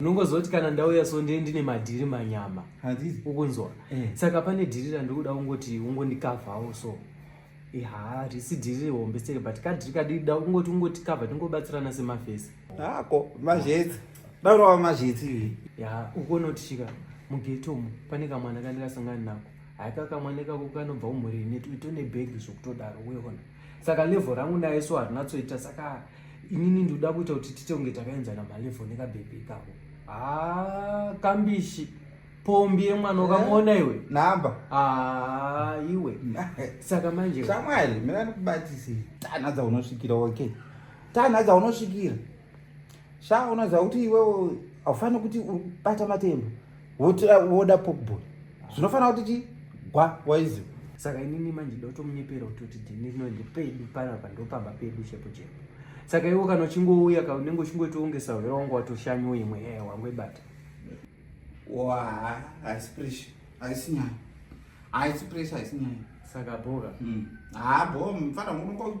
unongozoti kana ndauya so ndee ndine madhiri manyama ukunzwa eh. saka pane dhiri randikuda ungoti ungondikavhawo so ha risi dhiri hombe seke but kadhiri kadida ungoti ungoti kavha tingobatsirana semafesi hako mazhetsi daurava mazhetsi ya ukonotisvika mugetomu pane kamwana kandikasangani nako haikakamwana ikako kanobva umhuri netone bhegi zvokutodaro weona saka level rangu naye so harinatsoita saka inini ndikuda kuita kuti tite kunge takaenzana malevel nekabhebhi ikako haa ah, kambishi pombi yemwana eh? ukamuona iwe namba haa ah, iwe saka manje shamwari mina ndikubatisei tanha dzaunosvikira okay tanha dzaunosvikira sha unoziva kuti iwewo haufaniri kuti ubata matemba woda pokbon zvinofanira kuti chi gwa waiziva saka inini manje ndotomunyepera kutoti dhini rino ndepedu panapa ndopamba pedu chepo chepo saka iwo kana uchingouya ka unenge uchingoitoongesa hwera wangu watoshanyo imwe ee wangu ibata wa haisi pressure haisi nyaya haisi pressure haisi nyaya saka bhoka hmm. haa bho mfana unongo